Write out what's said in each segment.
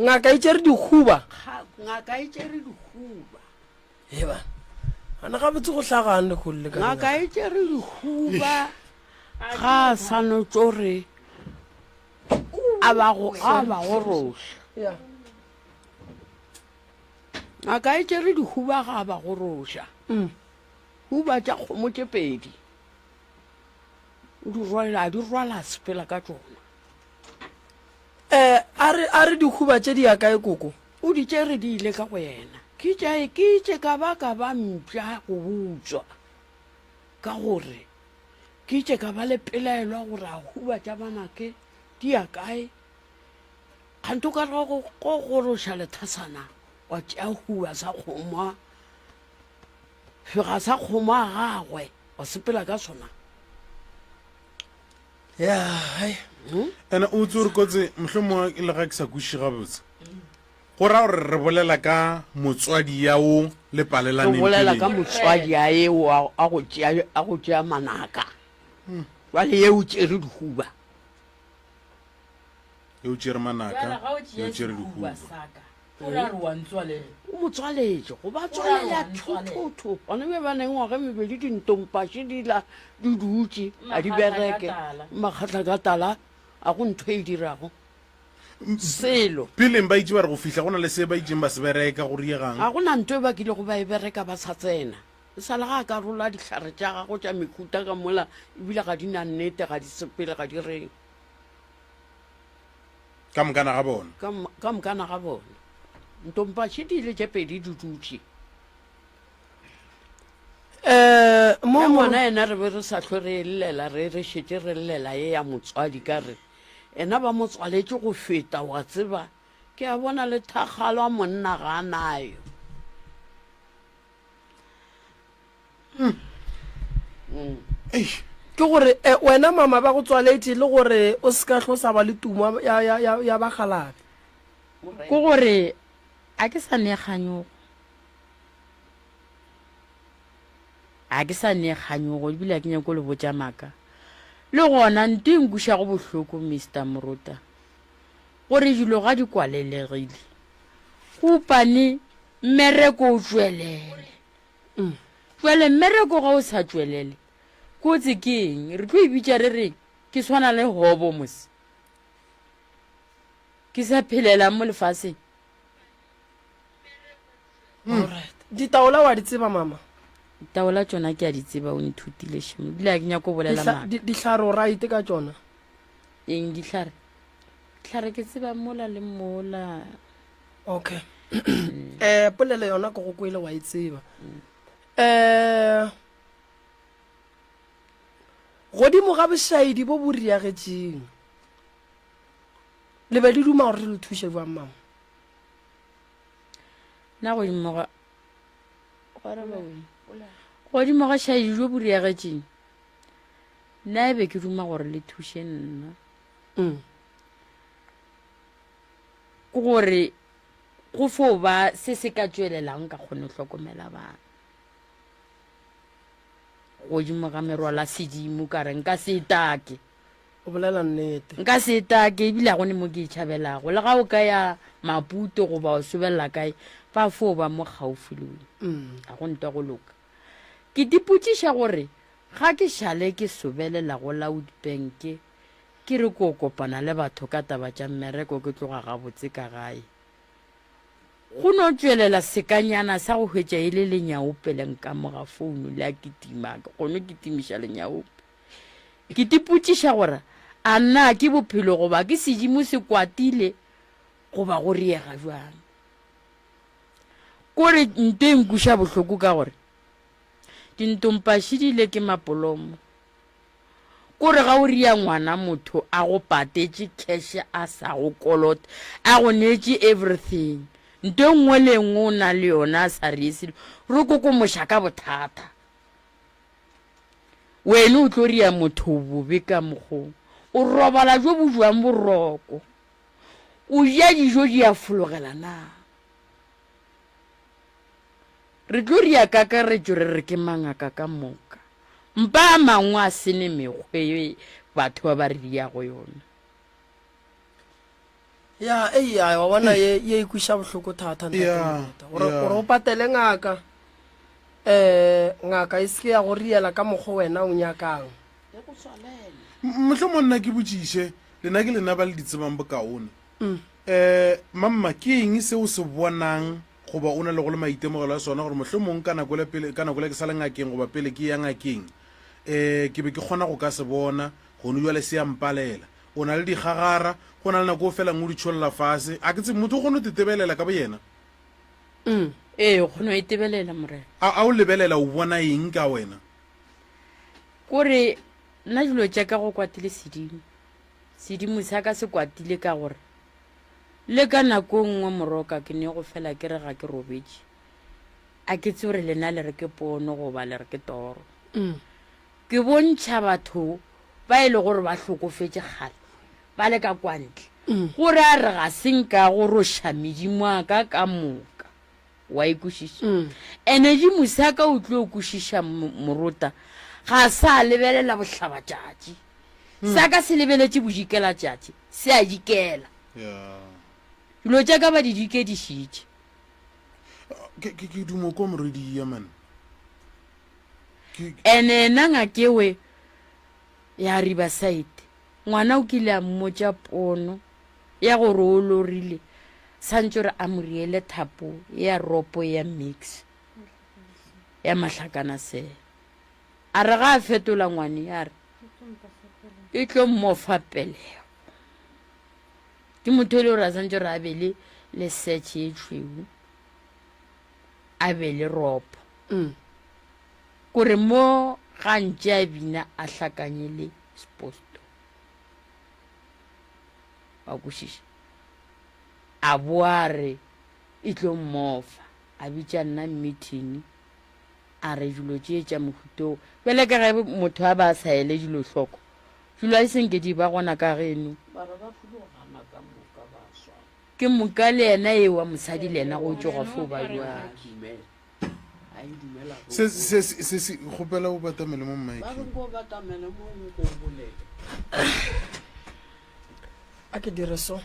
Ngaka e tšere dikhuba. Ga, ngaka e tšere dikhuba. Eba, ana gabotse go hlagang le go le ka Ngaka dingaka. e tšere dikhuba ga a sa no tšo re a ba go a ba goroša. Ya. Ngaka e tšere dikhuba ga a ba goroša. Mm. Huba tša kgomo tše pedi o di rwala a di rwala a sepela ka tšona. Eh, a re, a re dikhuba tše di ya kae koko? O di tšere di ile ka go yena. Ke tša e ke itše ka ba ka ba mpša go butswa ka gore ke itše ka ba le pelaelwa gore a huba tša banake di ya kae kgante o ka re go go goroša lethasana wa tšea huba sa kgomwa fega sa kgomwa a gagwe wa sepela ka sona ya hai ene o tse re kotse mohlwe mo e le ga ke sa kuši gabotse go ra gore re bolela ka motswadi ya o le palelaneng re bolela ka motswadi ya e wa a go tšea a go tšea manaka hmm. jwale ye o tšere dihuba Ge o tšere manaka, ge o tšere dihuba. O mo tswaletše go ba tswalela thothotho. Bana be ba neng ngwaga e mebedi dintompaše di la di dutše a di bereke makgatla ka tala a go ntho e dirago selo. Peleng ba itše ba re go fihla go na le se ba itšeng ba se bereka go riegang. Ga go na nto e ba kilego ba e bereka ba sa tsena. E sa le ga a ka rola dihlare tša gagwe tša mehuta ka mola ebile ga di na nnete, ga di sepele, ga di reng. ka mokana ga bona ka mokana ga bona ntompaše di ile tše pedi di dutše um mo ngwana ena re be re sa tlho re llela re re šetse re llela ye ya motswadi ka re ena ba mo tswaletše go feta wa tseba ke a bona le thakgalo a monna ga a nayo hmm. mm. eish ke gore eh, wena mama ba go tswaletse le gore o se ka tlho sa ba le tumo ya, ya, ya, ya bagalabe ke gore a ke sa neganyogo a ke sa neganyogo ebile a ke nyako le botja maka le gona nto e nkuša go bohloko mr morota gore dilo ga di kwalelegile kopane mmereko o tswelele Bjale mmereko ga o sa tšwelele, kotsi ke eng? Re tlo e bitša re re ke swana le Hobo mos ke sa phelelang mo lefaseng. Alright. Ditaola wa di tseba, Mama? Ditaola tšona ke a di tseba, o nthutile šemo, ebile ga ke nyake go bolela Dihla, maaka. di, dihlare o right ka tšona? Eng dihlare? Dihlare ke tseba mola le mola. okay um eh, polelo yona ke go kwele wa e tseba um eh, godimo ga bošaedi bo bo riagetšeng le be le duma gore re le thuše jwang mama na godimo ga godimo ga šaedi jo bo riagetšeng nna e be ke duma gore le thuše nna mm. ke gore go fo ba se se ka tšwelelang ka kgone go hlokomela bana godimo ga merwala sedimo ka re nka se etake o bolela nnete nka se etake ebile a gone mo ke e tšhabelago le ga o ka ya maputo goba o sobelela kae fa fo ba mo gaufi le wena mm. a go ntwa go loka ke dipotšiša gore ga ke šale ke sobelela go loud banke Ke re ko kopana le batho ka taba tša mmereko ke tloga gabotse ka gae. Go no tšwelela sekanyana sa go hwetša e le Lenyaope le nkamoga founu le a kitima ke kgono kitimiša Lenyaope. Ke tipotšiša gore a na ke bophelo goba ke sedimo se kwatile goba go riega bjang. Kore nto e nkuša bohloko ka gore dintompašidile ke mapolomo. Kore ga o ria ngwana motho a go patetše cash a sa go kolot a go neetše everything nto e nngwe le engwe o na le yona a sa rie selo ro kokomoša ka bothata wene o tlo ria motho bobe ka mokgo o robala jo bo jwang boroko o ja dijo di a fologela na Re tlo ri ya kakaretšo re re ke mangaka ka moka. Mpa a mangwe a se ne mekgwe ye batho ba ba re yago yona. Ya, ei, ya, wa bona, ye, ye e kweša bohloko thata, ntate Ya, Moreta. Gore, ya. gore o patele ngaka, um, ngaka e se ke ya go riela ka mokgwa wena o nyakang. M- Mohlomong nna ke botšiše, lena ke lena ba le di tsebang bokaone. Um, Mamma, ke eng se o se bonang Goba o na le go le maitemogelo a sona gore mohlomong ka nako le ke sa le ngakeng goba pele ke ya ngakeng, um ke be ke kgona go ka se bona, gonu bjale se ya mpalela. O na le digagara, go na le nako o felang o di tšholla fase. A ke tsebe, motho o kgona go te tebelela ka boyena? Um, ee, o kgona go e tebelela, Morena. A, a o lebelela o bona eng ka wena? Kore, nna dilo tša ka go kwatile sedimo. Sedimo sa ka se kwatile ka gore le ka nako nngwe moroka ke ne go fela ke re ga ke robetše. A ke tsebe gore lena le re ke pono goba le re ke toro. Mm. Ke bontšha batho ba e le gore ba hlokofetše kgale ba le ka kwantle mm. gore a re ga se nka go roša medimo a ka ka moka. wa e kwešiša mm. ene di mosaka o tlo kwešiša morota ga sa lebelela bohlabatšatši mm. sa ka se lebeletše bodikela tšatši se a dikela dilo tša ka ba di dikedišitše ke dumo ko moredi yemen ene ena ngakewe ya ribasaite Ngwana o kile a mmotša pono ya gore o lorile santše gore a mo riele thapo ya ropo ya mix ya mahlakana se. A re ga a fetola ngwane a re e tlo mmofa pelego. Ke motho e le gore a santše gore a be le le search e tšhweu a be le ropo. Mm. Kore mo gantše a bina a hlakanye le Seposto. Wa kwešiša? A bo a re e tlo mmofa, a bitša nna mithini, a re dilo tše tša mohuto wo. Bjale ka ge motho a ba a sa ele dilo hloko, dilo a di se nke di ba gona ka geno. Bara ba folo gana ka moka ba swana. Ke moka le yena ewa mosadi le yena go tšoga fo ba bjalo. se se se se se kgopela o batamele mo mike a ke dire so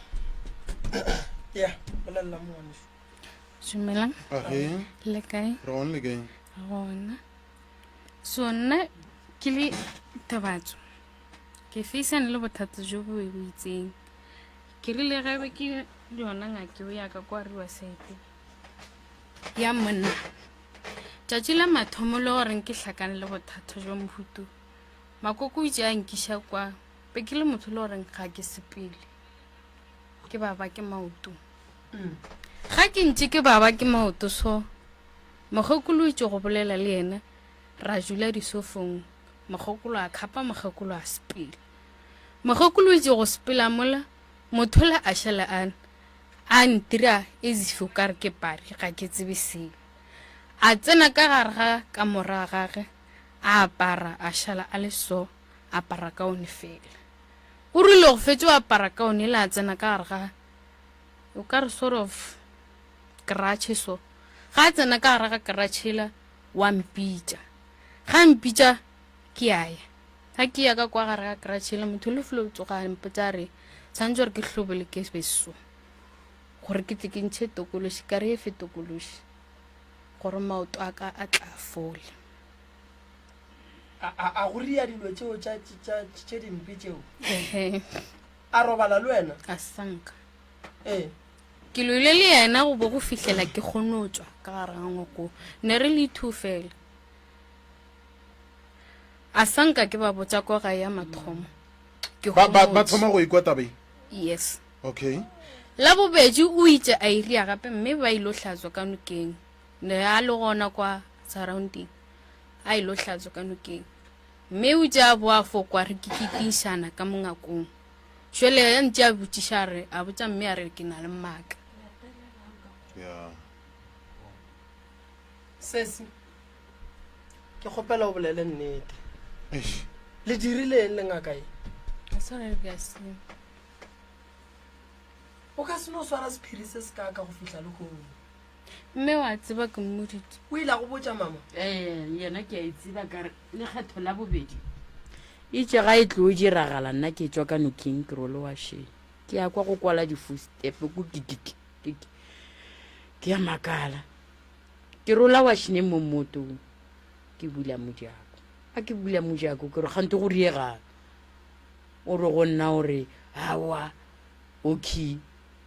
ya bolelela mone dumelang a ge le kae re gone le kae gona so nna ke le thabatso ke feisane le bothata jo bo bo itseng ke rile gabe ke yona ngake o yaka kwa riwa sete ya monna tšatši la mathomo le gore nke hlakane le bothata jwa mohutu makoko o itse a nkiša kwa be ke le motho le goreng ga ke sepele ke baba ke maoto mm. ga ke ntse ke baba ke maoto so mogokolo itse go bolela le yena ra jula disofong mogokolo a khapa mogokolo a sepele mogokolo itse go sepela mola motho le a šala ana A ntira as if o ka re ke pari, ga ke tsebe selo. A tsena ka gare ga kamora gage, a apara, a šala a le so, a apara kaone fela. O rile go fetše go apara kaone yela a tsena ka gare ga, o ka re sort of kratšhe so. Ga a tsena ka gare ga kratšhe yela, wa mpitša. Ga mpitša, ke ya ya ga ke ya ka kwa gare ga kratšhele motho le fule o tsoga a mpotsa re tshwanetse gore ke hlobole ke beso gore ke tle ke ntšhe tokološi kare e fe tokološi gore maoto a ka a tla fole a go ria dilo tseo tše dimpe tseo a robala le wena a sanka ee ke loile le yena go bo go fihlela ke kgonotswa ka gare ga ngoko ne re le two fela a sa nka ke ba botsa ko gae ya mathomo ke ba ba ba homotse. thoma go ikwa taba e yes okay la bobedi o itše a iria gape mme ba ilo hlatswa ka nokeng ne a le gona kwa surrounding a ilo hlatswa ka nokeng mme o tša bo a fokwa re kikikišana ka mongakong šele a ntše a botšiša a re a botsa mme a re ke na le mmaka yeah sesi ke kgopela o bolele nnete le dirileng le ngaka e o ka se no swara sephiri se se kaka go fitlha le kgomo mme wa tseba ke mmodite o ile go botsa mama ee yena ke a e tseba ka re lekgetho la bobedi itse ga e tlo o diragala nna ke tswa ka noking ke role wa shee ke ya kwa go kwala difostepe ko ke ya makala Ke rola washneng mo mmotong, ke bula mojako. A ke bula mojako, ke re, Kgante go riegang? O re go nna, o re, Aowa, Oki,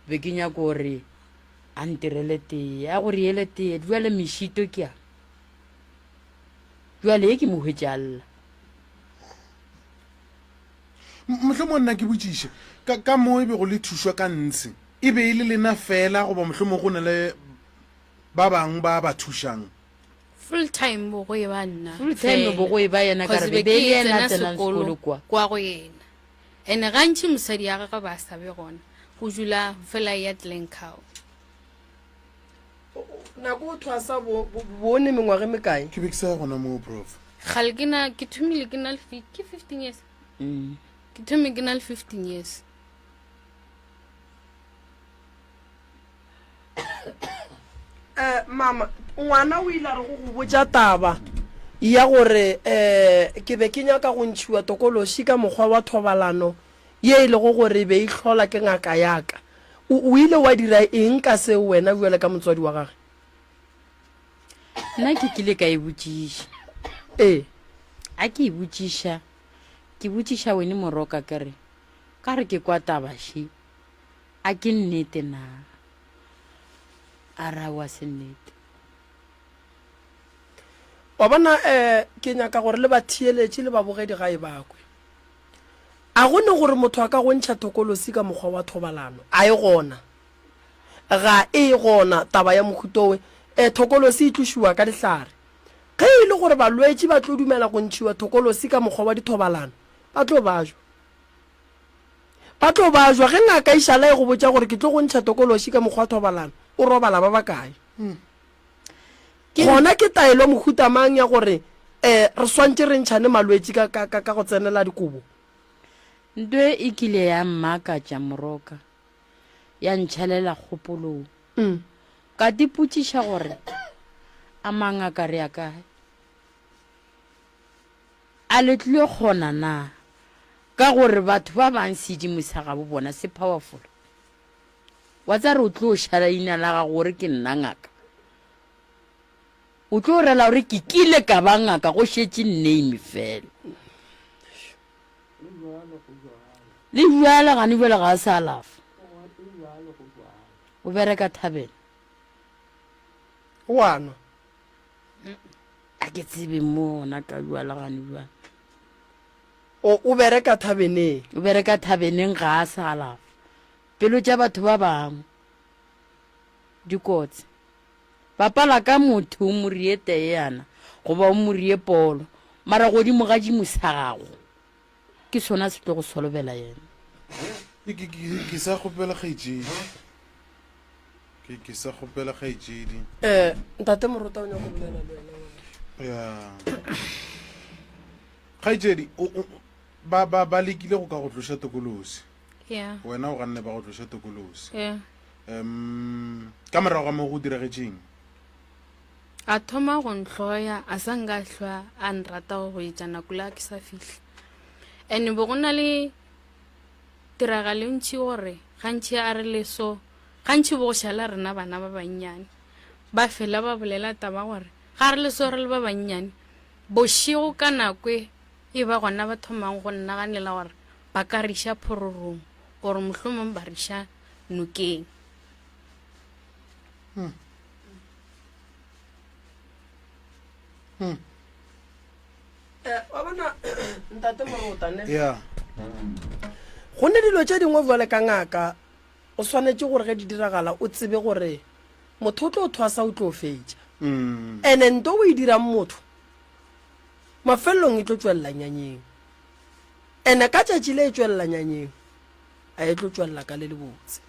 be ke nyako gore a ntirele tee. A go riele tee. Bjale mešito ke a. Bjale ye ke mo hwetše a lla. Mohlomong nna ke botšiše, ka, ka moo e bego le thušwa ka ntshi, e be e le lena feela goba mohlomong go na le ba bang ba ba thušang. Full time bo go eba nna fela. Full time bo go eba yena ka re be be yena a tsenang sekolo kwa. Kwa go yena. Ene gantši mosadi ya gagwe ba sa be gona, o dula fela ya Glencow. Nako o thwasa bo o ne mengwaga e mekae? Ke be ke sa ya gona moo, Prof. Kgale ke na, ke thomile ke na le fi, ke 15 years. Ke thomile ke na le 15 years. um mama ngwana o ile a re go go botša taba ya gore um ke be ke nyaka go ntšhiwa tokološi ka mokgwa wa thobalano ye e lego gore e be e hlola ke ngaka yaka o ile wa dira eng ka seo wena bjale ka motswadi wa gage nna ke kile ka e botšiša ee a ke e botšiša ke botšiša wene moroka kere ka re ke kwa tabaši A ke nnete na? A re ao a se nnete. Wa bona, eh, ke nyaka gore le batheeletši le babogedi gae ba kwe. A go ne gore motho a ka go ntšha thokolosi ka mokgwa wa thobalano? A e gona? Ga e gona taba ya mohuto we. Eh, thokolosi e tlošiwa ka dihlare. Ge e le gore balwetši ba tlo dumela go ntšhiwa thokolosi ka mokgwa wa dithobalano, ba tlo bajwa. Ba tlo bajwa. Ge ngaka e šala e go botša gore ke tlo go ntšha tokološi ka mokgwa wa thobalano, o robala ba bakae? Gona ke taelo mohuta mang ya gore re swantše re ntšhane malwetši ka go tsenela dikobo? Nto e kile ya mmakatša moroka, ya ntšhelela kgopolong. Ka tipotšiša gore, A mangaka re ya kae? A le tlile kgona na? Ka gore batho ba bang sedimo sa gabo bona se powerful. Wa tsa re o tlo ša leina la gago gore ke nna ngaka. O tlo rela gore ke kile ka ba ngaka go šetše name fela. Le jwale gane jwale ga a sa alafa. O bereka thabeng. O a nwa. a ke tsebe mo ona ka bua le gane bua o o bereka thabeneng o bereka thabeneng ga a sa alafa pelo tša batho ba bangwe dikotsi bapala ka motho o morie teye yana goba o morie polo mara godimo ga dimo sa gago Ke sona se tlo go solobela yena. Ke, ke, ke, ke sa kgopela kgaetšedi. Ke, ke sa kgopela kgaetšedi. Eh, ntate Morota o nyaka go bolela le wena ngwanešu. Ya. Kgaetšedi, o, o, ba, ba, ba lekile go ka go tloša tokolosi. Ya. Wena o ganne ba go tloša tokolosi. Ya. Em, ka morago ga moo go diragetšeng? A thoma go nhloya, a sa nka hlwa a nrata go etša nako la ke sa fihla. Ene bo go na le tiragalentši gore gantši a re leso, gantši bo go šala rena bana ba bannyane. Ba fela ba bolela taba gore ga re leso re le ba bannyane, bošego ka nako e e ba gona ba thomang go nnaganela gore ba ka re iša phororong or mohlomong ba re iša nokeng. Hmm. Hmm. Eh, wa bona ntate morotane ya go ne dilo tše dingwe jale ka ngaka o swanetše gore ge di diragala o tsebe gore motho o tlo o thwasa o tlo fetša Mm. ene nto o e dirang motho mafelelong e tlo tswelela nyanyeng ene ka tšatši le e tswelela nyanyeng a e tlo tswelela ka le lebotse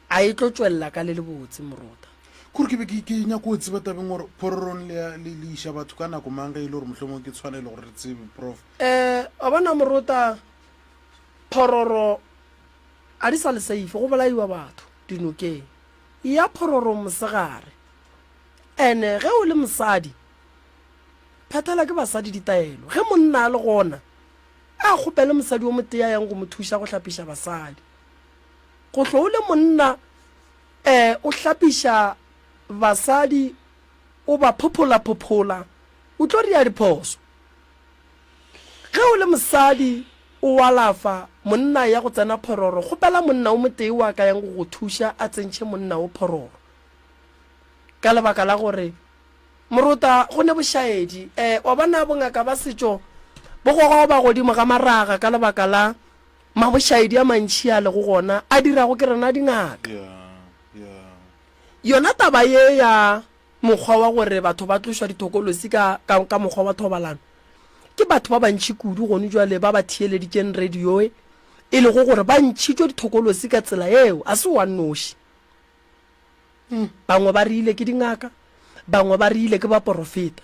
A e tlo tšwelela ka le lebotse, moruta? Kore ke be ke, ke nyako o tseba tabeng gore phororong le ya, le, le iša batho ka nako mang ge e le gore mohlomongwe ke tshwanelo gore re tsebe, Prof. Ee, wa bona, moruta, phororo a di sa le seife, go bolaiwa batho dinokeng. E ya phororong mosegare. Ene ge o le mosadi, phethela ke basadi ditaelo. Ge monna a le gona, a kgopele mosadi o motee a yang go mo thuša go hlapiša basadi. Gohlo o le monna eh o hlapiša basadi o ba phophola phophola o tlo ria diphoso Ge o le mosadi o alafa monna ya go tsena phororo kgopela monna o motee wa ka yang go go thuša a tsentšhe monna wo phororo ka lebaka la gore Morota go ne bošaedi eh wa bona bongaka ba setšo bo goga go ba godimo ga maraga ka lebaka la Mabošaedi a mantši a lego gona a dirago ke rena dingaka. Yona taba ye ya mokgwa wa gore batho ba tlošwa dithokolosi ka, ka, ka mokgwa wa thobalano, ke batho ba bantši kudu gonu bjale ba ba theeleditšeng radioe e lego gore ba ntšhitšwe dithokolosi ka tsela yeo. Ga se wa nnoši. Bangwe ba rile ke dingaka, bangwe ba rile ke baporofeta.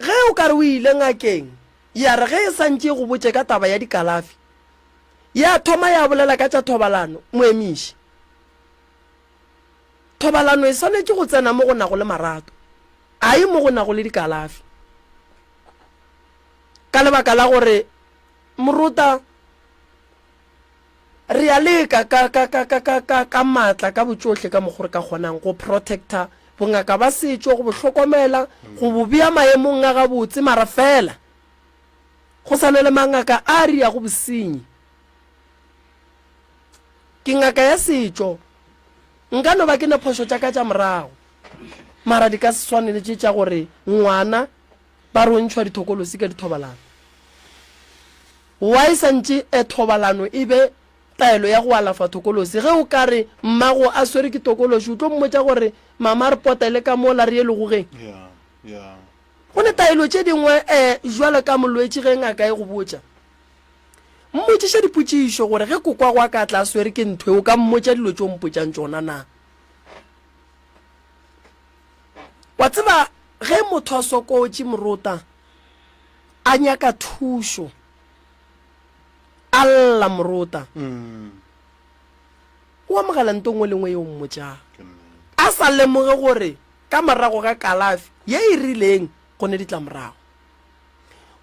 Ge o ka re o ile ngakeng, ya re ge e sa ntše e go botše ka taba ya dikalafi, ya thoma ya bolela ka tša thobalano, mo emiše. Thobalano e swanetše go tsena mo go nago le marato, a e mo go nago le dikalafi. Ka lebaka la gore, morota, Re a leka ka, ka, ka, ka, ka, ka, ka maatla, ka botšohle ka mokgo re ka kgonang, go protecta bongaka ba setšo, go bo hlokomela, go bo bea maemong a gabotse, mara feela go sa na le mangaka a a riago bosenyi. Ke ngaka ya setšo, nka no ba ke ne phošo tša ka tša morago, mara di ka se swane le tše tša gore ngwana ba re o ntšhwa dithokolosi ka dithobalano. Wa e santše e thobalano e be taelo ya go alafa tokolosi. Ge o ka re, Mmago a swerwe ke tokolosi, o tlo mmotša gore, Mama a re potele ka mola re ye legogeng. Go ne taelo tše dingwe e bjalo ka molwetši ge ngaka e go botša. Mmotšiše dipotšišo gore ge kokwagw a ka tla a swerwe ke ntho e, o ka mmotša dilo tše o mpotšang tšona na. Wa tseba ge motho a sokotše morota a nyaka thušo, a lla morota, o amogela nto nngwe le nngwe yeo mmotšang, a sa lemoge gore ka morago ga kalafi ye e rileng go ne ditlamorago.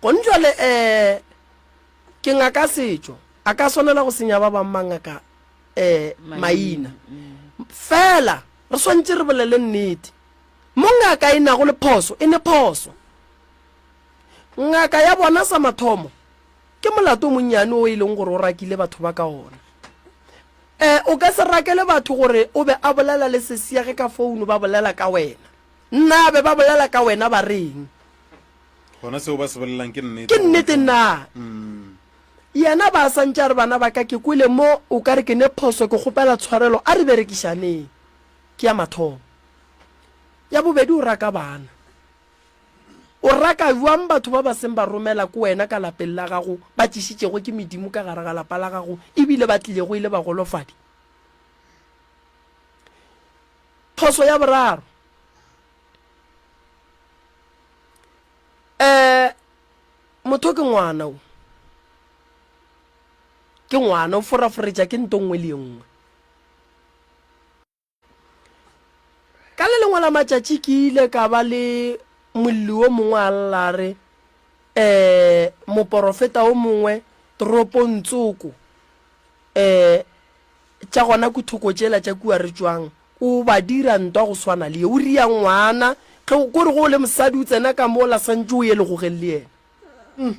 Gone jwale um ke ngaka setšo, a ka swanela go senya ba bangwe mangaka um maina fela. Re swanetše re bolele nnete. Mo ngaka e nago le phoso, e ne phoso. Ngaka ya bona sa mathomo ke molato o monnyane o e leng gore o rakile batho ba ka ona. E, o ka se rakele batho gore o be a bolela le sesi ya ge ka founu ba bolela ka wena. Nna be ba bolela ka wena ba reng? Gona seo ba se bolelang ke nnete. Ke nnete na? Yena, Ba sa ntše a re, Bana ba ka, ke kwele mo o ka re ke ne phoso, ke kgopela tshwarelo. A re berekišaneng. Ke ya mathomo. Ya bobedi, o raka bana. O raka bjang batho ba ba seng ba romela ko wena ka lapeng la gago, ba tšešitšego ke medimo ka gare ga lapa la gago e bile ba tlilego e le bagolofadi? Phoso ya boraro, um Motho ke ngwana, o ke ngwana, o foraforetša ke nto nngwe le ye nngwe. Ka le lengwe la matšatši ke ile ka ba le molli wo mongwe a lla a re, um Moporofeta wo mongwe toropong tsoko um tša gona ku thoko tšela tša kua re tšwang, O ba dira ntwa go swana le ye. O ria ngwana. Ge o, kore ge o le mosadi o tsena ka mo o la santše o ye legogeng le yena. Umm.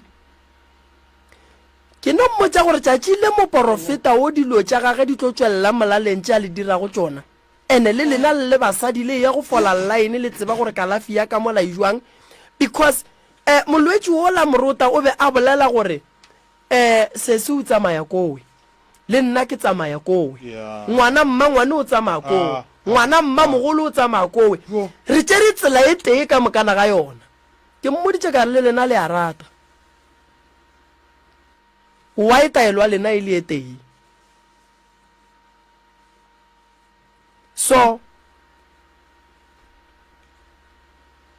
Ke no mmotša gore tšatši le moporofeta wo dilo tša gage di tlo tšwelela molaleng tše a le dirago tšona. Ene le lena le le basadi le eya go fola line le tseba gore kalafi ya ka mola e jwang because, eh, molwetši wola Morota o be a bolela gore Ee, sesi o tsamaya kowe. Le nna ke tsamaya kowe. Ngwana, mmangwane o tsamaya kowe. Ngwana, mmamogolo o tsamaya kowe. Re tšere tsela e tee ka mokana ga yona. Ke mmoditše ka re, Le lena le a rata. Why taelo ya lena e le e tee? So,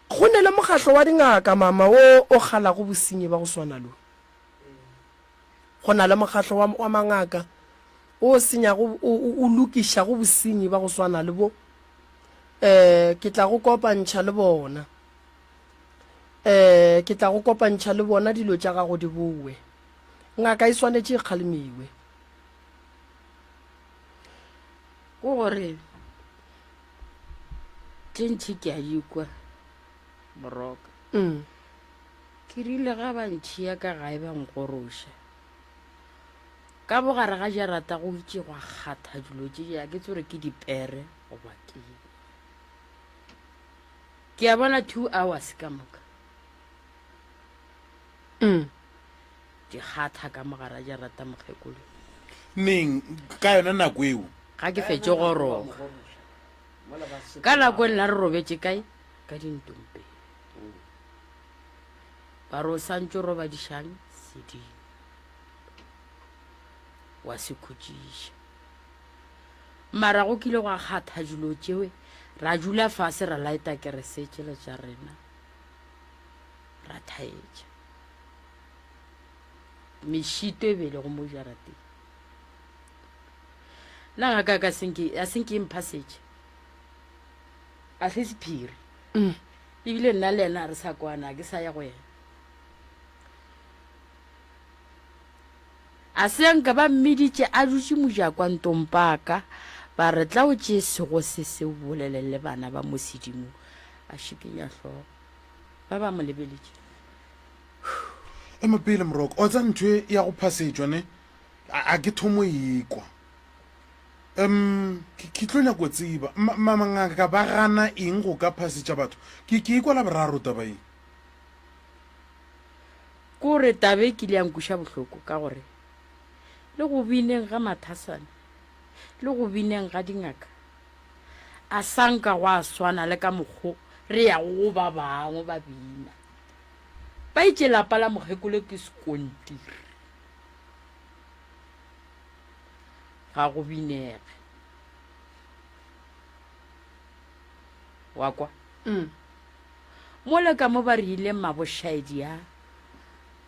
go ne le mokgatlo wa dingaka, mama, wo o kgalago bosenyi ba go swana lo. Go na le mokgatlo wa, wa mangaka o senyago, o, o, o lokišago bosenyi ba go swana le bo. Um, ke tla go kopantšha le bona. Um, ke tla go kopantšha le bona dilo tša gago di bowe. Ngaka e swanetše e kgalemiwe. ko gore tše ntšhi ke a di kwa moroka mm. ke rile ga ba ntšhiya ka gae ba nkgoroša ka bogare ga jarata go itše gwa kgatha dilo tše ja ke tsore ke dipere goba ke ke a bona two hours ka moka mm. di kgatha ka mogara ja rata mokgekolo neng ka yona nako eo ga ke fetše go roga ka nako e nna re robetše kae ka dintompe ba re o santse roba dišang sedimo wa se khutšiša mara go kile go a kgatha dilo tšewe ra dula fase ra laeta keresetše le tša rena ra thaetša mešito e bele go mo jarateng na ga ka ka senke a senke e mpha setse a se sephiri mm. ebile nna le ena re sa kwana ke sa ya go yena a se nka ba mmeditše a dutše mojakwa ntompaka ba re tla o tšee sego se se bolelele bana ba mosedimo a šikenya hloko ba ba mo lebeletše ema pele moroko o tsa ntho ya go phasetšwa ne a ke thomo ikwa um ke tlo nyako tseba mamangaka ba gana eng go ka phasetša batho ke ke ikwa la boraro taba eng kore tabe ke le yankuša bohloko ka gore le go bineng ga mathasane le go bineng ga dingaka A sa nka gwa swana le ka mokgo re yago go ba bangwe ba bina? Ba itše lapa la mokgekolo ke sekontiri. Ga go binege. Wa kwa? Mm. Mole ka mo ba rile mmabošaedi a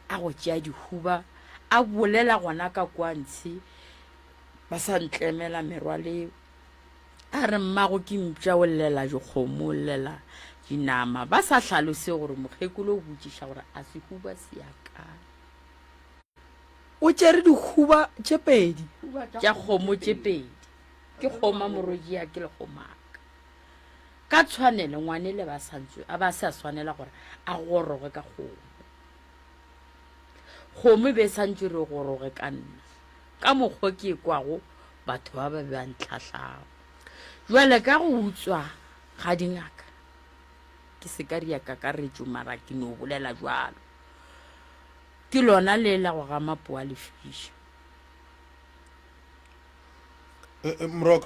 a go tšea dihuba a bolela gona ka kwa ntshe ba sa ntlemela merwaleo. A re, Mmago ke mpša, o llela dikgomo, o llela dinama. Ba sa hlalose gore mokgekolo o botšiša gore a sehuba se ya kae. O tšere dikhuba tše pedi. Tša kgomo tše pedi. Ke kgoma moroji ya ke lekgomaka. Ka tshwanelo ngwane le ba santswe a ba se a swanela gore a goroge ka kgomo. Kgomo e be e santswe re goroge ka nna. ka mokgwa ke ekwago batho ba ba ba ntlhahlago. Jwale ka go utswa ga dingaka, ke se ka ria kakaretšo mara ke no bolela jwalo, ke lona le la go ga mapoa lefiša. Eh, eh, Mrok.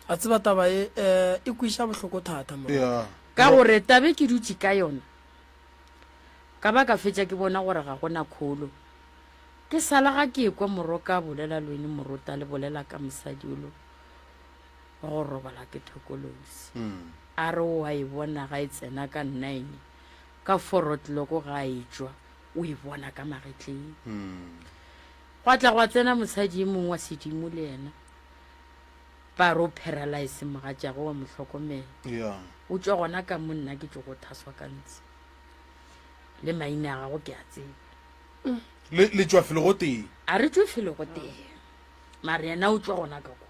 A tseba taba e, eh, e kwiša bohloko thata, Mrok. Yeah. Ka gore tabe ke dutše ka yona, ka ba ka fetša ke bona gore ga go na kholo. Ke sa la ga ke ekwa moroka a bolela lweni morota le bolela ka mosadi o lo go robala ke thokolosi hmm. a re o a e bona ga e tsena ka nine ka forotloko ga a etswa o e bona ka magetleng hmm. gwa tla gwa tsena mosadi e mongwe wa sedimo le yena ba re o paralyse mogatšago wa motlhokomela o tswa gona ka mo nna ke tso go thaswa ka ntsi le maina a gago ke a tseba le tšwa felo go tee a re tšwe felo go tee mare yena o tšwa gona ka kwa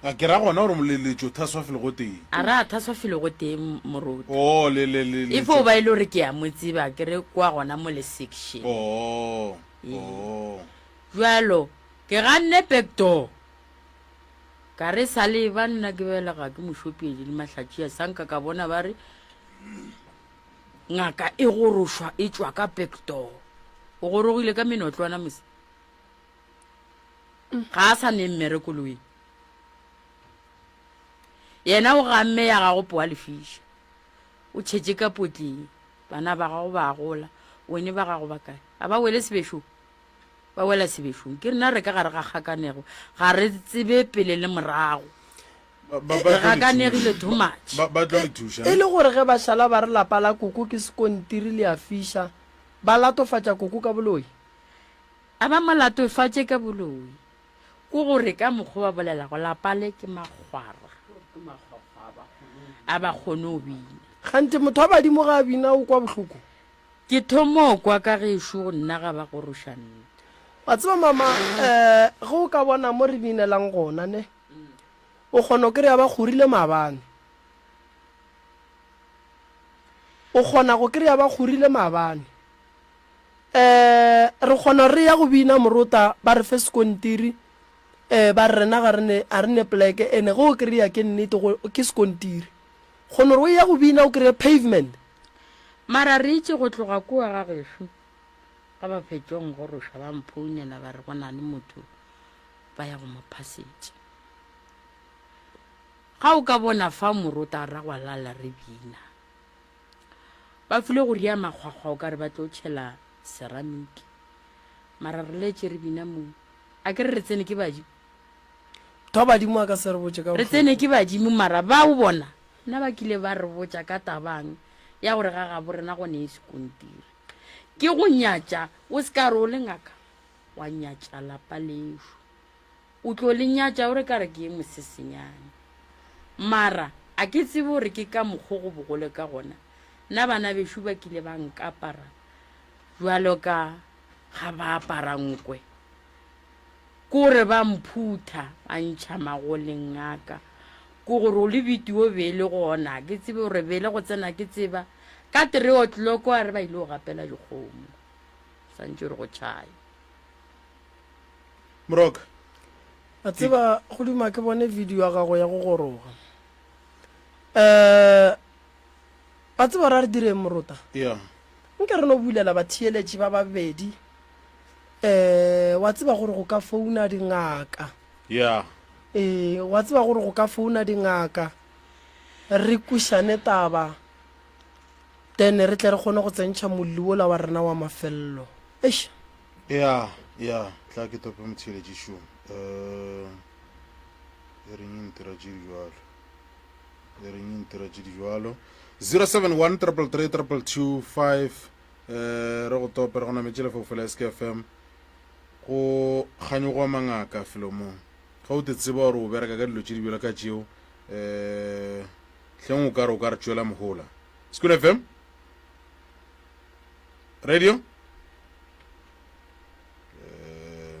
a ke ra gona gore moleletšo thaswa felo go tee a re a thaswa felo go tee moruti o oh, le le le e fo ba e le gore ke ya mo tseba ke re kwa gona mo le section o oh, o oh. jalo ke ganne back door ka re sa le ba nna ke belega ke mošopiedi le mahlatšia sanka ka bona ba re Ngaka e gorošwa e tšwa ka pektogo. O gorogile ka menotlwana mose. Ga a sa ne mmere koloing. Yena o gamme ya gago poa lefiša. O tšhetše ka potleng. Bana ba gago ba gola. Wene ba gago ba kae? A ba wele sebešong? Ba wela sebešong. Ke rena re ka gare ga kgakanego. Ga re tsebe pele le morago. E gakanegile too much. Ba, ba tlo re thuša. E le gore ge ba šala ba re lapa la koko ke sekontiri le a fiša, ba latofatša koko ka boloi? A ba mo latofatše ka boloi. Ko gore ka mokgo ba bolelago lapa le ke makgwara a ba kgone go bina. Kganthe motho wa badimo ga a bina o kwa bohloko. Ke thomo kwa ka gešo go nna ga ba goroša nnte. Wa tseba mama, eh, ge o ka bona mo re binelang gona, neh. O kgona go kry-a ba kgorile maabane. O kgona go kry-a ba kgorile maabane. Um re kgona gore re ya go bina morota ba re fe sekontiri, um ba re rena ga re ne poleke ene ge o kry-a ke nnete ke sekontiri. Kgona gore o ya go bina o kry-e pavement. Mara re itše go tloga kua ga gešo, ga ba fetšong go roša ba mphounela ba re go na le motho ba ya go mo phasetša. Ga o ka bona fa morotara gwa lala re bina. Ba file go ria makgwakgwa o ka re ba tlo tšhela ceramic. Mara re letše re bina mo. A ke re re tsene ke badimo? Tho badimo a ka se re botše ka bohloko. Re tsene ke badimo mara ba o bona na ba kile ba re botša ka tabang ya gore ga gabo rena gone e sekontiri. Ke go nyatša o se ka re o le ngaka wa nyatša lapa lešo o tlo le nyatša gore ka re ke ye mosesenyane mara a ke tsebe gore ke ka mokgo go bogole ka gona nna bana bešo ba kile ba nkapara jalo ka ga ba apara nkwe kore ba mphutha ba ntšha magoleng aka ko gore o le bitio be e le gona ke tsebe gore bele go tsena ke tseba ka three o'clock a re ba ile go gapela dikgomo santše re go tšhaya. Moroka. A tseba go duma ke bone video ya gago ya go goroga. Eh a tseba ra re direng morota? Yeah. Nke re no bulela ba theeletši ba babedi. Eh wa tseba gore go ka founa dingaka. Yeah. Eh wa tseba gore go ka founa dingaka re kušane taba. then re tle re kgone go tsentšha molli wola wa rena wa mafelelo eish ya ya tla ke tope motheeletši šomo um e reng e ntira tše di jalo e reng e ntira tše di jalo 071 333 225 um re go tope re go nametše lefofo la skfm go kganyogoa mangaka felomong ga o te tseba gore o bereka ka dilo tše di bjalo ka tšeo um hleng o ka re o ka re tšwela mohola. School FM? Radio? Eh,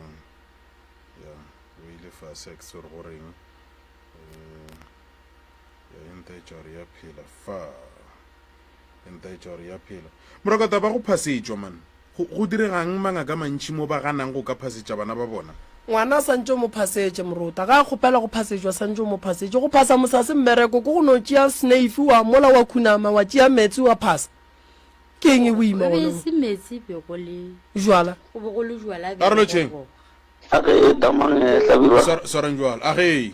ya, o ile fase a ke tsore go reng. Eh, ya enta e tšware ya phela fa. Temperature ya phelo. Morakotaba ba go phasetšwa man. Go, go diregang mangaka a mantši mo ba ganang go ka phasetša bana ba bona? Ngwana santše o mo phasetše, morota. Ga a kgopela go phasetšwa, santše o mo phasetše. Go phasa mosa se mmereko, ke go no tšea sneifi wa mola wa khunama, wa tšea metsi wa phasa. Ke eng e boima gona Be e mo? se metsi, be go le, Jwala. go be go le jwala bja Karolo tšeng? bogogo. A ge e tamang e hlabirwa. Swar, swarang bjalo. A ge e.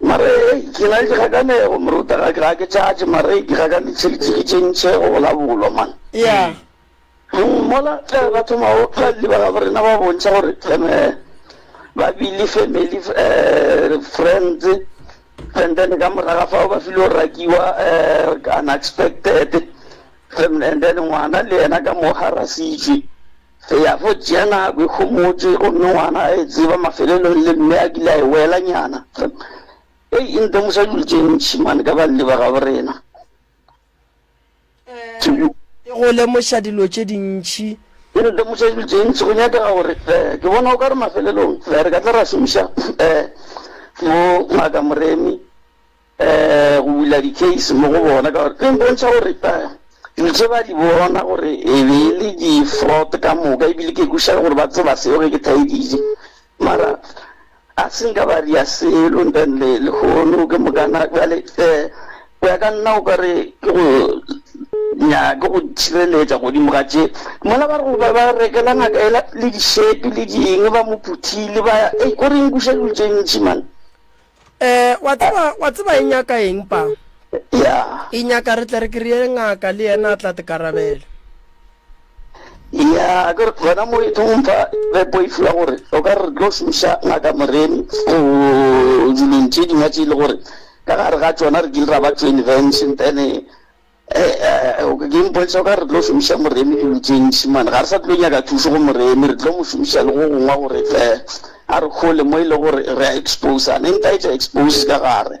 Mare ke na le dikgakanego moruta ga ke ga ke tšatše mare ke ga ka di tšhelete ke tše ntšhe go bola bolo man. Yeah. Hmm, mola ge ba thoma go ba le ba ga rena ba bontšha gore eme ba bile family eh friends and then ka moraga fa ba filo rakiwa eh unexpected and then ngwana le yena ka mo harasitšwe. Re ya fo Jenna, o ikhomotše, gomme ngwana a e tseba mafelelong, le mme a kile a e welanyana. Hei, e ntemoša dilo tše ntši, mane, ka banni ba gabo rena. Ke. E go lemoša dilo tše dintši. E ntemoša dilo tše ntši. Go nyakega gore, ke bona o ka re mafelelong re ka tla ra šomiša mo Ngaka Moremi. go bula dikeisi mo go bona ka gore e bontšha gore dilo tše ba di bona gore e be e le di-fraud ka moka ebile ke kwešiša gore ba tseba seo ge ke thaeditše mara a se nka ba ria selo ntanle lehono ke mokana jale um go ya ka nna o ka re ke go nyake go tšhireletša godimo ga tše mola ba re goba ba rekela ngaka ela le dišepe le dingwe ba mo phuthile ba ya e ko re nkuša dilo tše ntši mane Eh, wa tseba wa tseba e nyaka eng pa ya e nyaka re tle re kry-e ngaka le yena a tla tekarabela ya ke re gona mo e thong fa re poifula gore o ka re tlo šomiša ngaka moremi go dilong tše dingwe tše e le gore ka gare ga tsona re kile ra ba tšo invention then Ke mpotša ka re tlo šomiša Moremi dilo tše ntši mane, ga re sa tlo nyaka thušo go Moremi, re tlo mo šomiša le go gongwa gore a re kgole mo e le gore re a exposa. Ne nka etša expose ka gare,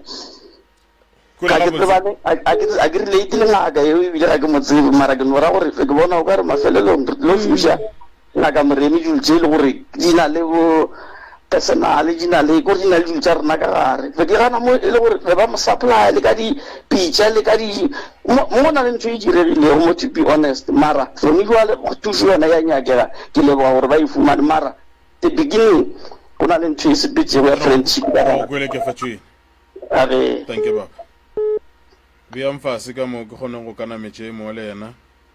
ga ke tsebane, ga ke relate le ngaka yeo ebile ga ke mo tsebe mara ke no ra gore ke bona o ka re mafelelong re tlo šomiša. Ngaka Moremi dilo tše e le gore di na le bo personal, di na le, kore di na le dilo tša rena ka gare. Be ke gana mo e le gore be ba mo supplya le ka dipitša le ka di, mo go na le ntho e diregilego mo to be honest mara gone bjale thušo yona e a nyakega. Ke leboga gore ba e fumane mara the beginning go na le ntho e sepetšego ya friendship ka gare. Ke go kwele ke fa tšwene. A re. Dankie baba. Beyang fase ka mo ke kgoneng go ka nametše e mongwe le yena.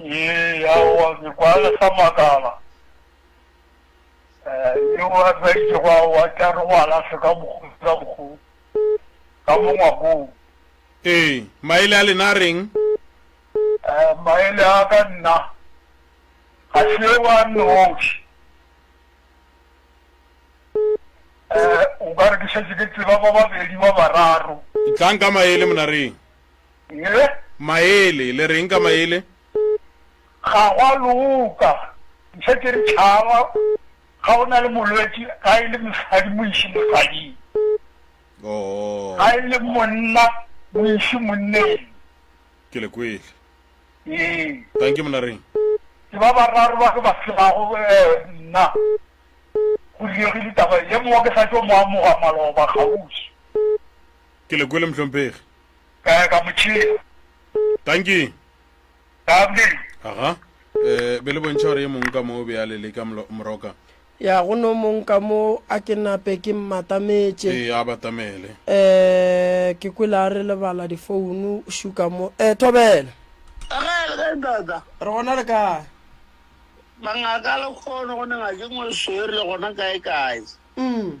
Ee, aowa, ke kwa le sa makala. Yo a hweditšego, aowa, ke a re go a lahlwe ka bokgodi ka bokgodi, ka mo ngwakong. Ee, maele a lena a reng? Maele a ka nna, ga se yo a nnoši. O ka re ke šetše ke tseba ba babedi ba bararo. Tlang ka maele, monareng. Mme. Maele, le reng ka maele? Ga go a loka. Mpsha ke re tšhaba ga o na le molwetši ga e le mosadi mo iše mosading. Oo. Ga e le monna mo iše monneng. Ke le kwele. Ee. Thank you, monna Reng. Ke ba bararo ba ke ba tshebago nna. Go diegile taba ye mongwe ke sa tšo mo amoga maloba kgauswi. Ke le kwele mohlomphegi. Ka ya ka mo tšhea. Tanki. Lovely. Aha. Eh, be le bontšha gore e mong ka mo o be a le leka moroka. Ya go no mong ka mo a ke nape ke mmatametše. Ee, a batamele. Eh, ke kwele a re lebala difounu, o šuka mo. Eh, Thobela. Ge, ge dada. Re gona le kae? Bangaka le kgono go ne ngake ngwe swere le gona kae kae. Umm.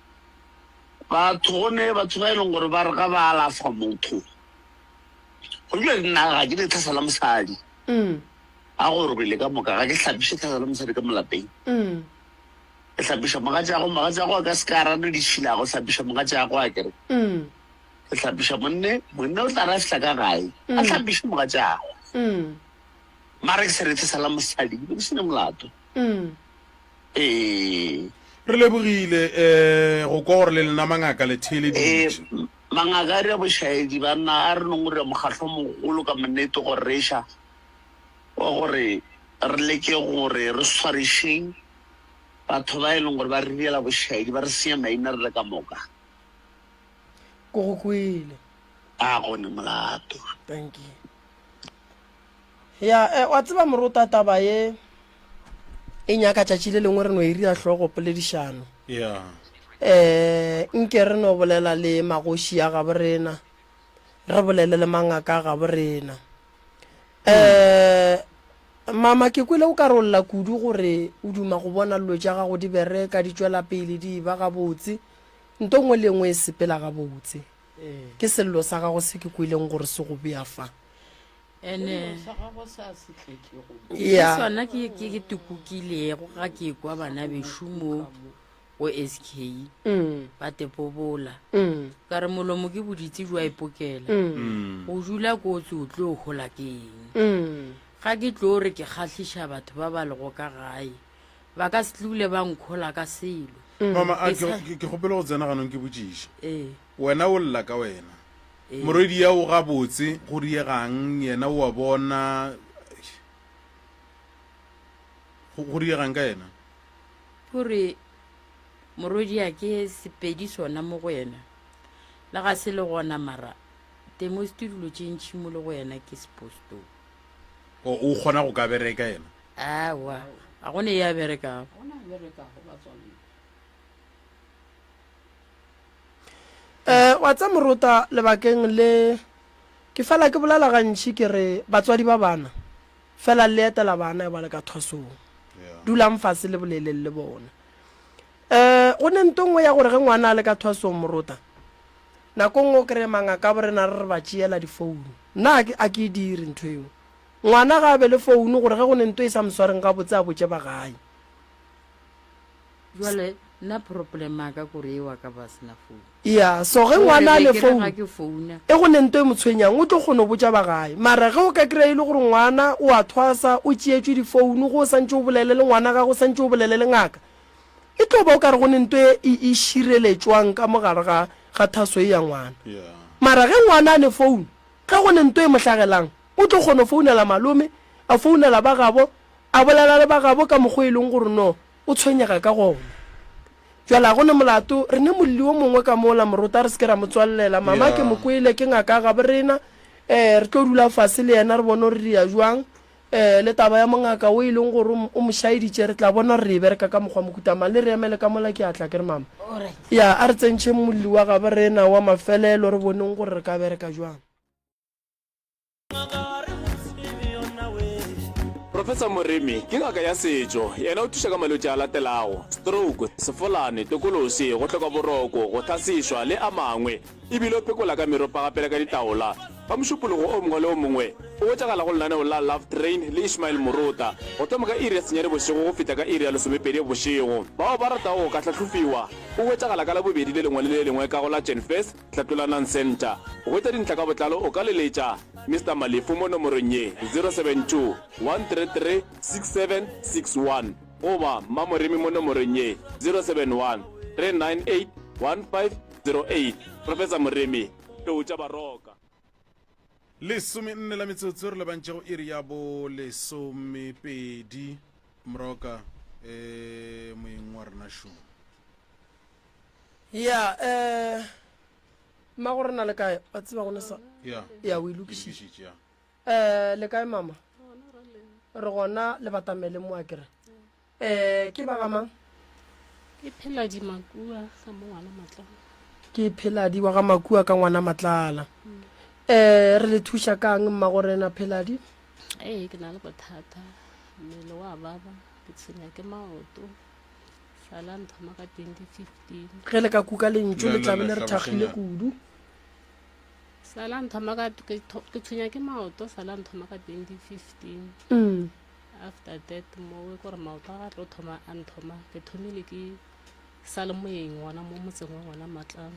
Batho go ne batho ba e leng gore ba re ga ba alafa motho go dula di nna ga ke ne tlhasa la mosadi a go robele ka moka ga ke hlapiše tlhasa la mosadi ka molapeng ke hlapiša mogatšago mogatšago a ka se ka rane di šilago hlapiša mogatšago a kere ke hlapiša monne monne o tla ra fihla ka gae a hlapiše mogatšago mara ke se re tlhasa la mosadi ke sene molato Ee. Re lebogile go kwa gore le lena mangaka le theeleditše. Ee, mangaka a re bošaedi banna a re nongorira mokgatlo mogolo ka monnete go reša wa gore re leke gore re swarišeng batho ba e leng gore ba re direla bošaedi ba re senya maina re le ka moka. Ke go kwele. A go ne molato. Thank you. Ya, eh, wa tseba morota taba ye e nyaka tšatši le lengwe re no e rira hlogo poledišano. Ya. Eh, nke re no bolela le magoši ya gabo rena, re bolele le mangaka a gabo rena. Eh, mama ke kwele o ka re o lla kudu gore o duma go bona llo tša gago di bereka, di tšwela pele, di eba gabotse. Nto ngwe le engwe e sepela gabotse. Ke sello sa gago se ke kweleng gore se go bea fa. ene ke ya sona ke ke ke tukukilego ga ke kwa bana bešo mo go sk ba tepobola ka re molomo ke boditse jwa ipokela go dula kotsi o tlo o gola ke eng ga ke tlo re ke kgatlhiša batho ba ba lego ka gae ba ka se tlule ba nkgola ka selo mama a Ke sa- ke ke kgopele go tsena ganong ke botšiša ee Wena o lla ka wena. Morwediago gabotse go diegang yena o a bona eish. Go go diegang ka yena? Go re morwedia ke Sepedi sona mo go yena. Le ga se le gona mara temosti dilo tše ntši mo le go yena ke sepostoo. O o kgona go ka bereka yena? Aowa ga go ne ya berekago. Eh, wa tsa morota lebakeng le ke fela ke bolela gantši ke re batswadi ba bana fela le etela bana e ba le ka thwasong dulang fase le boleleng le bona eh go ne nto nngwe ya gore ge ngwana a le ka thwasong morota nako nngwe o kry-e mangaka bo rena re re ba tšeela difounu nna a ke e dire ntho eo ngwana ga a be le founu gore ge go ne nto e sa moswareng ga botse a botse ba gae Bjale nna problem ya ka kore ewa ka ba sena phone. Ya so ge ngwana a le phone e go ne nto e motshwenyang o tlo kgono botša ba gae mara ge o ka kry e le gore ngwana o a thwasa o tšeetšwe di phone go o santše o bolele le ngwana gagwe o santše o bolele le ngaka e tlo ba o kare go ne nto e e šireletšwang ka mogare ga ga thaso e ya ngwana mara ge ngwana a ne phone ge go ne nto e mohlagelang o tlo kgono founela malome a founela ba gabo A bolela le bagabo ka mokgwa o e leng gore no o tshwenyega ka gona. Bjale ga go ne molato, re ne molli o mongwe ka mola, morota a re se ke ra mo tswalelela. Mama, ke mo kwele, ke ngaka ya gabo rena. Um, re tlo dula fase le yena re bone gore re dira bjang. Um, le taba ya mongaka wo e leng gore o mo šaeditše, re tla bona gore re e bereka ka mokgwa mohuta mang. Le re emele ka mola, ke a tla, ke re, Mama. Ya, a re tsentšheng molli wa gabo rena wa mafelelo re boneng gore re ka bereka bjang. Professor Moremi ke ngaka ya setšo, yena o thuša ka malwetši a latelago, stroke, sefolane, tokolosi, go hloka boroko, go tlhasišwa le a mangwe, e bile o pekola ka meropa gape le ka ditaola. Ka mošupologo o mongwe le o mongwe o hwetšagala go lenaneo la Love Train le Ishmael Murota, go thoma ka iri ya senyane bošego go fihla ka iri ya lesomepedi bošego. Bao ba ratago go ka hlahlofiwa o hwetšagala ka Labobedi le lengwe le le lengwe ka go la Jan-Fest, Tlatolanang Centre. Go hwetša dintlha ka botlalo o ka leletša Mister Malefo mo nomorong ye, 072-133-6761 goba Mmamoremi mo nomorong ye, 071-398-1508. Professor Moremi, Tou tša Baroka. Lesomenne la metsotso re lebantše go iri ya bo lesomepedi. Mroka, Ee, moeng wa rena šo. ya um mma gore na le kae wa tseba gone sa ya ya o e lokišitše ya um le kae mama re gona le batamele mo a kere um ke ba gamang ke phela dimakua ka mo ngwana matlana ke pheladi wa ga makua ka ngwana matlala um re le thuša kang mma gore na pheladi ee ke na le bothata mmele wa baba ke tshwenya ke maoto ga la nthoma ka 2015 ge le ka kuka lentso le tlabe le re thakgile kudu sa la nthoma ka ke tshwenya ke maoto sa la nthoma ka 2015 mm. after that mowe kore maoto a ga tlo thoma a nthoma ke thomile ke sa le moyeng gona mo motseng wa gona matlang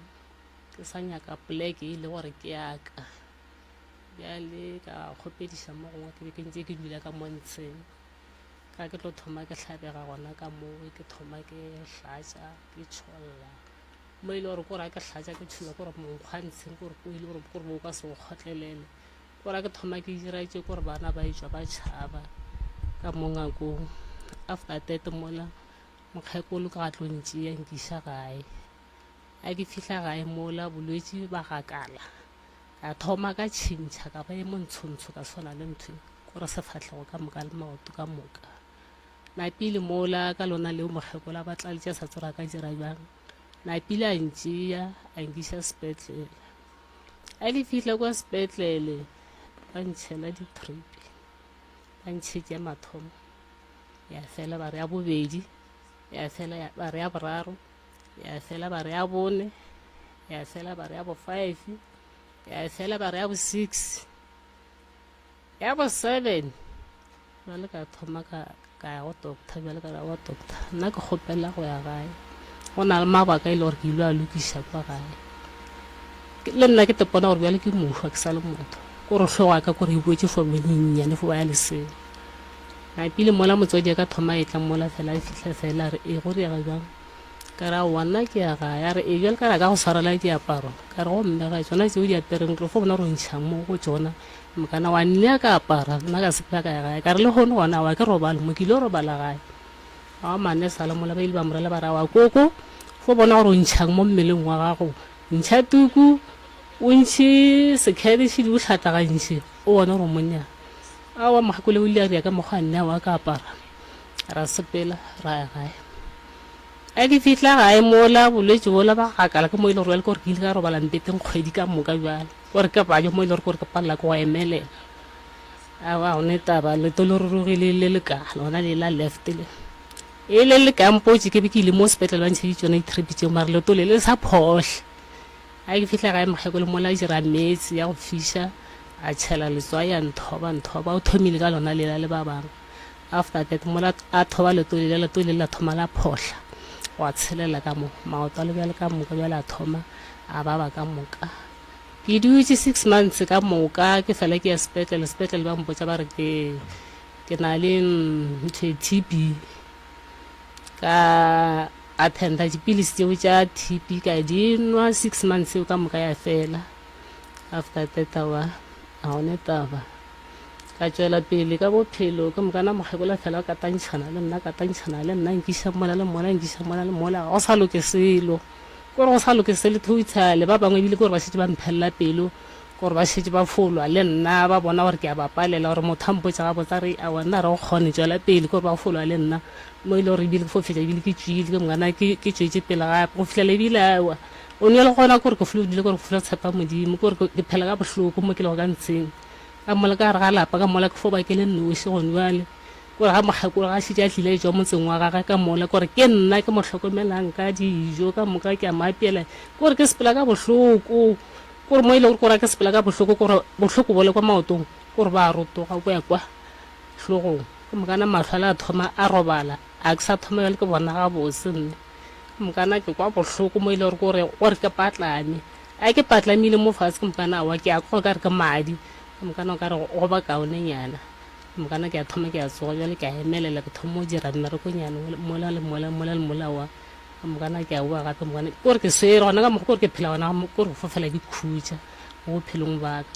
ke sa nyaka poleke e le gore ke yaka bjale ka kgopediša mo gongwe ke be ke ntse ke dula ka montsheng ka ke tlo thoma ke hlabega gona ka moo ke thoma ke hlatsa ke tšholla mo e le gore kore ke hlatsa ke tšholla kore monkgwantsheng kore ko e le gore kore bo ka se go kgotlelele kore ke thoma ke dira tše kore bana ba etswa ba tšhaba ka mo ngakong after tete mola mokgekolo ka gatlong tšeya nkiša gae a ke fihla gae mola bolwetse ba gakala Ka thoma ka tšhintšha ka ba e montshontsho ka swana le ntho ko re sefatlhego ka moka le maoto ka moka napile mola ka lona leo mokgekolo a batla letša sa tsora ka dira bjang napile a ntšea a nkiša sepetlele a le fihle kwa sepetlele ba ntšhela ditripi ba ntšhetše mathomo ya fela ba re ya bobedi ya fela ba re ya boraro ya fela ba re ya bone ya fela ba re ya bo five ya fela ba re ya bo six ya bo seven jale ka thoma ka ka ya go doctor jale ka ya go doctor nna ke kgopela go ya gae go na le mabaka e le gore ke ile a lokiša kwa gae Ke- le nna ke tepona gore bjale ke mošwa ke sa le motho ko re hlogo ya ka kore e boetse fo menyennyane fo ba ya leseng A pele mola motswadi a ka thoma etla mola fela a fihla fela a re e go diega bjang ka re aowa nna ke ya gae a re e bjale ka re a ka go tshwarela diaparo ka re gomme ga tsona tseo di apereng tlo fo bona gore o ntšha mo go tsona mokana wa nne a ka apara nna ka sepela ka ya gae ka re le gone gona wa ke robale mo ke ile robala gae a mane sa le mola ba ile ba morela ba ra wa koko fo bona gore o ntšhang mo mmeleng wa gago ntšha tuku o ntšhe sekhete še di o tlhatlagantšhe O bona gore o monna. A wa Makgakole o ile a bja ka mokgwa nna wa ka apara. Ra sepela, ra ya gae. A ke fihla gae mola bolwetši bola ba gakala ke mo e le gore ke gore ke ile ka robala mpeteng kgwedi ka moka bjale. Gore ke bajo mo e le gore gore ke palela ke go emelela. A wa gone taba leto le rurugile le le ka lona le la left le. E le le ka mpotše ke be ke ile mo sepetlele ba ntšheditše yona di-trip tšeo mara leto le le sa phohle. Ge ke fihla gae mokgekolo mola a dira meetse ya go fiša, a tšhela letswai a nthoba nthoba. O thomile ka lona lela le ba bangwe. After that mola a thoba leto lela, leto lele la thoma la phohla gwa tshelela ka mo, maoto a le bjale ka moka bjale a thoma a baba ka moka. Ke dutše six months ka moka ke fela ke ya sepetlele, sepetlele ba mpotša ba re ke ke na le ntho e TB ka Attenda dipilisi tšeo tša TB ka di nwa six months eo ka moka ya fela after that awa a one taba ka tšwela pele ka bophelo ke mokana mokgekolo fela o katantšhana le nna katantšhana le nna nkiša mola le mola nkiša mola le mola go sa loke selo kore go sa loke selo totally ba bangwe ebile kore ba šetse ba mphelela pelo gore ba šetše ba fo lwa le nna, ba bona gore ke a ba palela, gore motho a mpotša gabotse a re, A wena re go kgone tšwela pele ke gore ba fo lwa le nna? Mo e le gore ebile ke fo fetša ebile ke tšwile, ke mokana ke ke tšwetše pele gape go fihlela ebile a ewa o nwele gona gore ke flodile gore ke flo tshepa Modimo gore ke ke phela ka bohloko mo ke lego ka ntsheng ka mola ka gare ga lapa ka mola ke fo ba ke le nnoši gone bjale gore ga mokgekolo ga šitše a tlile a etswa motseng wa gage ka mola gore ke nna ke mo hlokomelang ka dijo ka moka ke a maapela gore ke sepela ka bohloko Ke gore mo e lego gore a ke sepela ka bohloko, ke gore bohloko bole kwa maotong, ke gore ba rotoga go ya kwa hlogong. Ke mokana mahlo a le a thoma a robala, a ke sa thoma jale ke bona gabotse nne. Ke mokana ke kwa bohloko mo e lego gore ke gore ke patlame. A ke patlamile mo fatshe ke mokana awa ke a kwa ka re ke madi, ke mokana o ka re go ba kaonenyana. Ke mokana ke a thoma ke a tsoga jale ke a emelela ke thoma go dira mmerekonyana mola le mola, mola le mola wa. ka mokana ke a boa gape mokana ke gore ke swere gona ka mokgwa kore ke phela gona ke gore go fofela ke khutša mo bophelong baka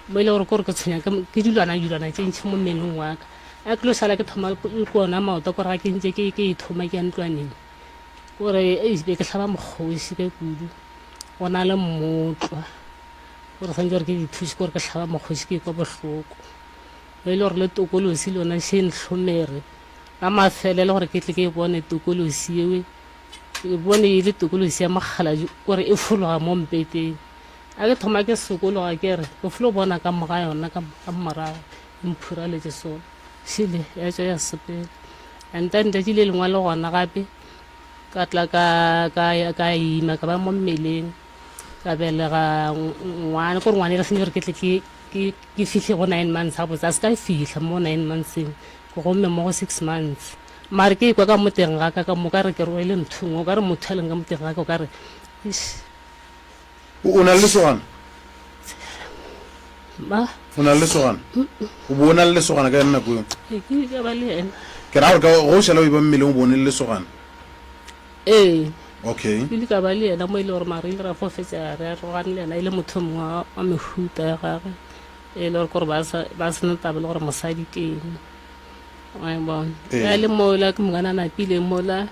mo e le gore kore ke tshwenya ke dilwana dilwana tse ntšhi mo mmeleng waka a ke lo sala ke thoma le kona maoto kore ga ke ntse ke e thoma ke ya ntlwaneng kore e be ke tlhaba mokgosi ka kudu go na le mmotlwa gore santse gore ke dithusi kore ke tlhaba mokgosi ke kwa bohloko mo e le gore le tokolosi lona se ntlhomere la mafelelo gore ke tle ke e bone tokolosi yewe ke bone e le tokolosi ya mokgaladi gore e fologa mo mpeteng a ke thoma ke sokologa ke re ke folo bona ka moga yona ka ka morago e mphuraletse sone šile ya tswa ya sepela and then letši le lengwe le gona gape ka tla ka ka ya- ka ima ka ba mo mmeleng ka belega ng- ngwana kore ngwana e re sentse gore ke tle ke ke ke fihle go nine months ga botse a se ka fihla mo nine monthseng Gomme mo go six months mare ke ekwa ka mo teng ga ka ka moka re ke rwele nthong o ka re motho a leng ka mo teng ga ka o ka re eish. O na le lesogana? Ma? O na le lesogana? O bo o na le lesogana ka yone nako eo? Ke kile ka ba le yena. Ke ra gore ka go šala o e ba mmeleng o bo o ne le lesogana? Ee. Okay. Ke ile ka ba le yena mo e le gore mare ile ra fo fetsa re arogane le yena e le motho mongwe wa mehuta ya gagwe. e le gore kore ba sa- ba sena taba le gore mosadi ke eng wa e bona Ee. ya le mola ke mongwana a napile mola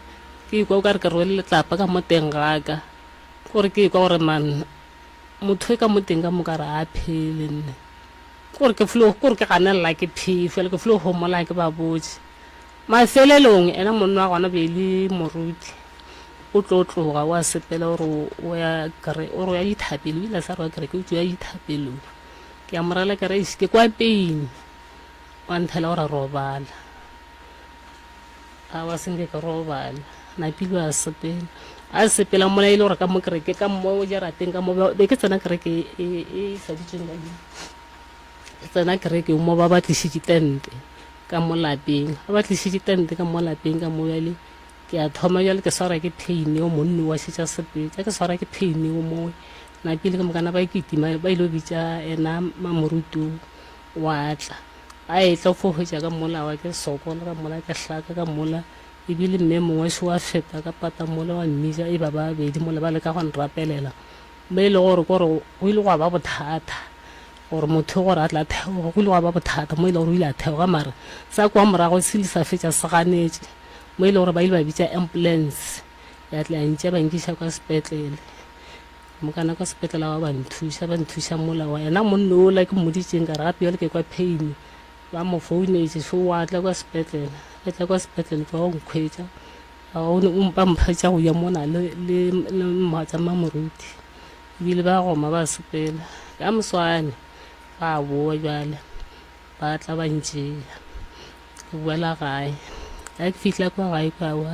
ke ikwa o ka re ke rwele letlapa ka mo teng gaka kore ke ikwa gore man motho e ka mo teng ka moka re a phele nne kore ke flo kore ke ganelela ke phee fela ke flo homola ke ba botse Mafelelong, yena monna wa gona be e le moruti, o tlo tloga o a sepela o re o ya kere, o re o ya dithapelong, o ile a sa re wa kereke, o tšo ya dithapelong. Ke a mo rela ke re, "Eish, ke kwa peini. Wa nthela o re robala. Aowa, se nke ke robala. Napile a sepela. A sepela mola e le gore ka mo kereke, ka mo jarateng ka mo, be ke tsena kereke e, e, e tladitsweng ka dilo. Re tsena kerekeng mo ba ba tlišitše tente ka mo lapeng, ba ba tlišitše tente ka mo lapeng ka mo bjale ke a thoma bjale ke swara ke pheine o monni wa šetša sepetša ke swara ke pheine o mowe napile ke mokana ba kitima ba ile bitša ena mamorutu wa tla a etla fo hwetša ka mola wa ke sokola ka mola ke hlaka ka mola ebile mme mongwe se wa feta ka pata mola wa mmija e ba babedi mola ba le ka go nrapelela mme e le gore kore go ile gwa ba bothata gore motho gore a tle a theoge go ile gwa ba bothata mo e le gore o ile a theoga mare sa kwa morago se ile sa fetša se ganetše mo e le gore ba ile ba bitša ambulance ya tle ya ntša ba nkiša kwa sepetlele mokana kwa sepetlele wa ba nthuša ba nthuša mola wa yena monne ola ke mmoditseng ka re gape jale ke kwa pain ba mo founetse so wa tla kwa sepetlele ba tla kwa sepetlele fa o nkgwetša ba mpha tša go ya mona le le le mmatsa mmamoruti E bile ba goma ba sepela ka moswane, ba boa bjale ba tla ba ntšea. Ke boela gae. Ga ke fihla kwa gae kwa wa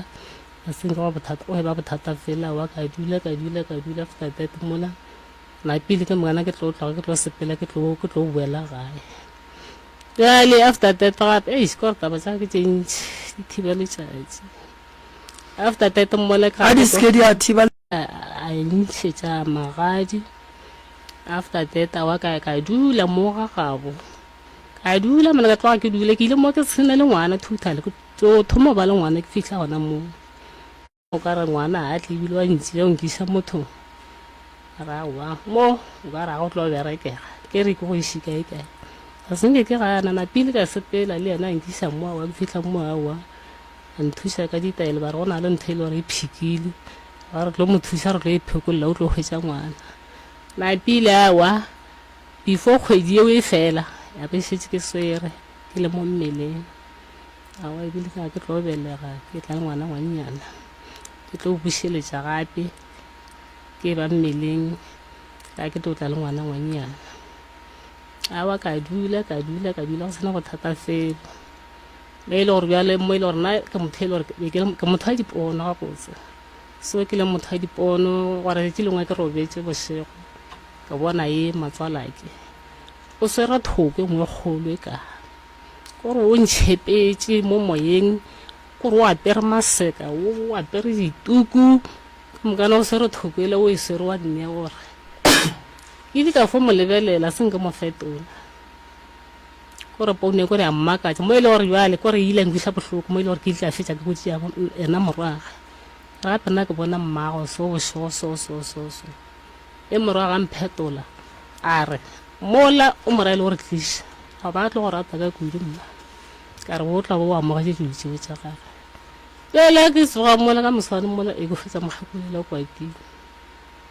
a senke wa bothata o eba bothata fela wa ka dula ka dula ka dula after that mola na pele ke mongana ke tlo tloga ke tlo sepela ke tlo ke tlo boela gae. Jale after that gape ei kore taba tsa ke tše ntši di thiba letšatši. After that mola ka ga di seke di a thiba I ntšhetša magadi after that a wa ka ka dula mo ga gabo ka dula mona ka tloga ke dula ke ile mo ke tshena le ngwana total ke tso thoma ba le ngwana ke fitlha gona mo o ka re ngwana a tle ebile wa ntsi ya nkisa motho ra wa mo o ka ra go tlo berekega ke re ke go ise kae kae ga se nke ke ga nana pele ka sepela le yena a nkisa mo a wa ke fitlha mo a wa a nthuša ka ditaelo ba re go na le ntho e le gore e phikile ba re tlo mo thuša re tlo e phekolela o tlo hwetša ngwana napile a wa before kgwedi yeo e fela ya be šetse ke swere ke le mo mmeleng a wa ebile ka ke tlo belega ke tla ngwana ngwannyana ke tlo bušeletša gape ke ba mmeleng ka ke tlo tla le ngwana ngwannyana a wa ka dula ka dula ka dula go sena go thata felo Ge e le gore bjale mo e le gore nna ke motho e le gore be ke- ke motho wa dipono gabotse so ke leng motho wa dipono gwa re letši lengwe ke robetše bošego ke bona ye matswalake o swere thoko e nngwe e kgolo e ka ke gore o ntšhepetše mo moyeng ke gore o apere maseka o o apere dituku ka mokana o swere thoko ele o e swere wa nne gore ke ile ka fo mo lebelela se nke mo fetola Kore poune kore a mmakatša mo e le gore bjale kore e ile a nkwiša bohloko mo e le gore ke ile ka fetša ke botše ya ena morwage re gape nna ke bona mmago so bošego so so so so e morwage a mphetola a re mola o mora e le gore tliša ga ba tlo go rata ka kudu mma ka re o tla bo o amogetše dilo tšeo tša gage bjale ke tsoga mola ka moswane mola e go fetsa mogakolela o kwatile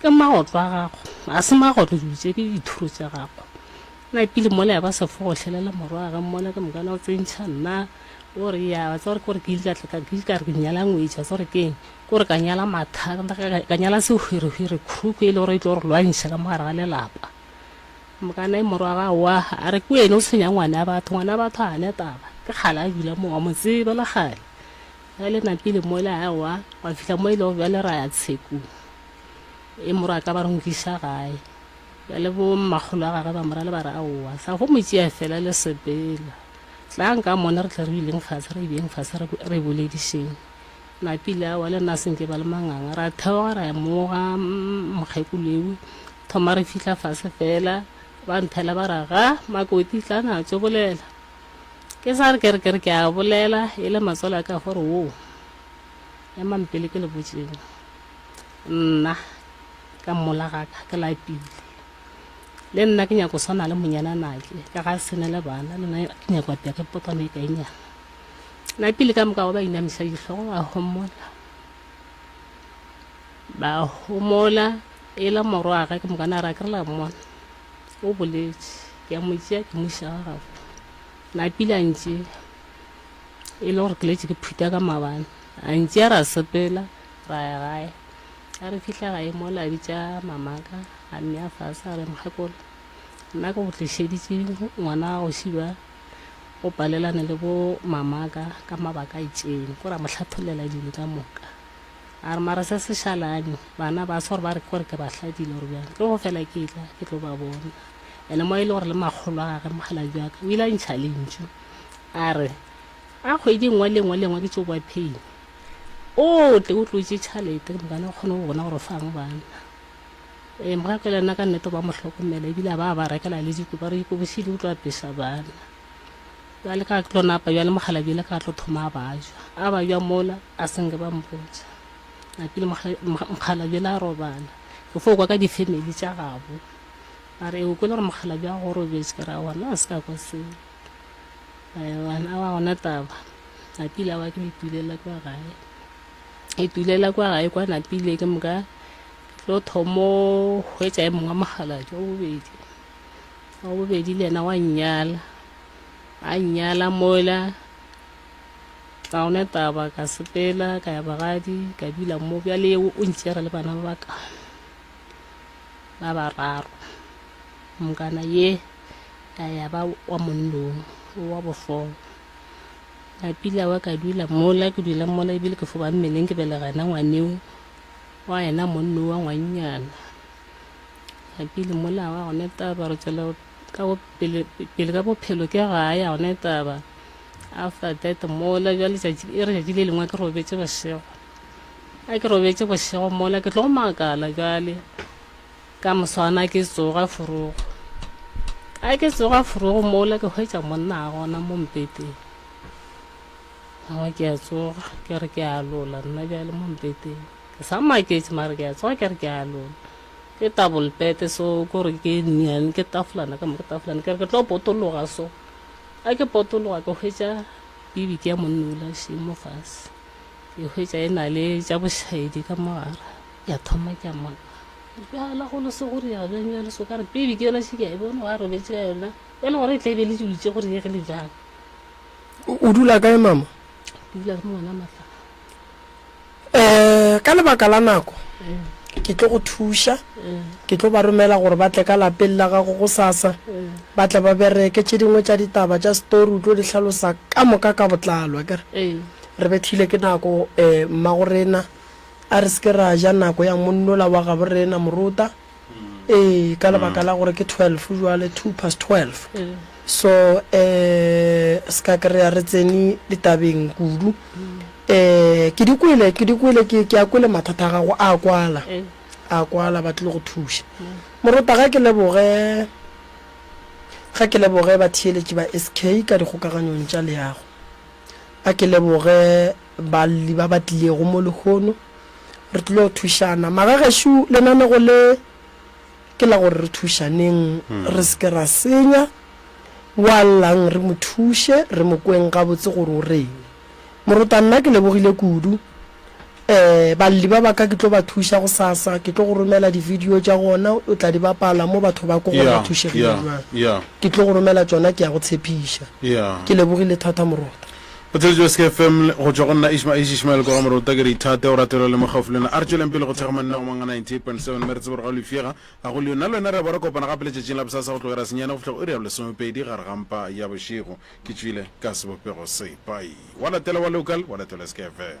Ke magotlo a gago, ga se magotlo dilo tše, ke dithoro tša gago. Na pele mola ya ba sefogo hlelela morwage mola ke mokana o tsentšha nna o re ya tsa gore ke gore ke ile ka tla ka ke ka re ke nyala ngwetša tsa gore ke eng ke gore ka nyala matha ka- ka- ka- ka nyala sehwerehwere khuruku e le gore e tlo re lwantšha ka mogare ga lelapa mokana e morwaga wa a re ke wene o tshwenya ngwana ya batho ngwana ya batho a ne taba ke kgale a dula mo wa mo tseba le kgale ya le napile mola a wa wa fihla mo e le gore bjale ra ya tshekong e moro a ka ba re nkisa gae bjale bo mmakgolo a gage ba mora le ba re aowa sa go mo tšea fela le sepela tlang ka mone re tle re ileng fase re ibeng fase re boledišeng napile awa le nna senke ba le manganga ra theoga ra emoga mokgekoloewe thoma re fitlha fase fela ba nthela ba ra ga makoti tla na tso bolela ke sa re ke re ke re ke a bolela e le matswalo a ka gore wo ema mpele ke le botseng nna ka mmola ga ka ke lapile le nna ke nyako swana le monyana nake ka ga sene le bana le nna ke nyako apea ke potame e kainyana na pele ka moka wa ba inamisa ditlhogo ba homola ba homola e le moro wa gage ke mokana ra ke re la mmona o boletše ke a mo tšea ke moša wa gago na pele a ntše e le gore ke letse ke phutha ka mabane a ntše a ra sepela ra ya gae a re fitlha gae mo la bitša mamaka a mme a fase a re mokgekolo nna ke go tlišeditše ngwana wa go šiba o palelane le bo mamaka ka mabaka a itšeng ko ra mo hlatholela dilo ka moka a re mara se se šalane bana ba se gore ba re kore ke ba hladile gore bjang ke go fela ke tla ke tlo ba bona ene mo e le gore le makgolo a gage mogala jaka o ile a ntšha lentšu a re a kgwedi nngwe le nngwe le nngwe ke tso boa phei o tle o tlotše tšhalete ke mogana o kgone go bona gore fang banna um ga ke lena ka nnete ba mo hlokomela ebile a ba ba rekela le diko ba re diko bošedi o tlo apesa banna bjale ka ke tlo napa bjale mogalabjele ka tlo thoma a bajwa a bajwa mola a senge ba mpotsa napile mogalabjele a robala ke fo kwa ka di-family tša gabo a re o kwele gore mogalabje a go robetse ke ra gona a se ka kwa seo Aewana a wa gona taba napile a wa ke itulela kwa gae itulela kwa gae kwa napile ke moka tlo thomo hwetša e mongwe mogaladi wa bobedi wa bobedi le yena wa nnyala a nnyala mola ga gona taba ka sepela ka ya bagadi ka dula mo bjale o ntšere le bana ba baka ba bararo mokana ye a ya ba wa monnong o wa bofola a pila wa ka dula mola ke dula mola ebile ke foba mmeleng ke belega yena ngwaneo wa yena monno wa ngwannyana a pile mola wa gone taba re tswela ka pele pele ka bophelo ke ga ya gone taba after that mola jwa letšatši e re letšatši le lengwe ke robetse bošego a ke robetse bošego mola ke tlo makala jwale Ka moswana ke tsoga forogo. Ka ke tsoga forogo mola ke hwetša monna a gona mo mpeteng. Nna ke a tsoga ke re ke a lola nna bjale mo mpeteng. Ke sa maketše mare ke a tsoga ke re ke a lola. Ke tabolpete so ko re ke nnyane ke tafolana ka mo ke tafolana ke re ke tlo potologa so. Ka ke potologa ke hwetša bibiki ya monna o la še mo fase. Ke hwetša e na le tša bošaedi ka mogare. Ke a thoma ke a makala. Dipegela go leso go riega bjang ya leso ka re pele ke yona šika e bone wa robetše ka yona e le gore e tla e be le dulitše go riegile bjang o dula kae mama ke dula le mongwana matla um ka lebaka la nako eh. ke tlo go thuša eh. ke tlo ba romela gore ba tle ka lapeng la gago go sasa eh. ba tle ba bereke tše dingwe tša ditaba tša story o tlo di hlalosa ka moka ka botlalwa kere re bethile ke nako um mmagorena A re se ke ra ja nako ya monnola wa gabo rena, Moruta. Ee, ka lebaka la gore ke twelve jwale, two past twelve. So, um se ka kry-a re tsene ditabeng kudu. Um ke di kwele, ke di kwele, ke, ke a kwele mathata a gago a kwala. A kwala, ba tlile go thuša. Moruta, ga ke leboge, ga ke leboge batheeletši ba SK ka dikgokaganyong tša leago. A ke leboge. Balle ba ba tlilego mo lehono, re tlile go thušana. Magagešo, lenanego le ke la gore re thušaneng, re se ke ra senya. Wa llang re mo thuše, re mo kweng gabotse gore o reng. Morota, nna ke lebogile kudu. Um, Balle ba ba ka ke tlo ba thuša gosasa. Ke tlo go romela di-video tša gona, o tla di bapala mo batho ba ko gore ba thušegile bjang. Ke tlo go romela tšona, ke ya go tshepiša. Ke lebogile thata, Morota. Go theeleditšwe Ske FM go tšwa go nna Ishma Ish Ishmael Koga Morota ke re ithate o ratelwa le mokgaufo le yena a re tšweleng pele go thekga manne go manga 98.7 mme re tsebe gore ga o lefšega ga go leo nna le wena re a bo re kopana gape letšatšing la bosasa go tloga ira senyane go fihla go iri ya bolesomepedi gare ga mpa ya bošego ke tšwile ka sebopego se pai wa latela wa local wa latelwa Ske FM.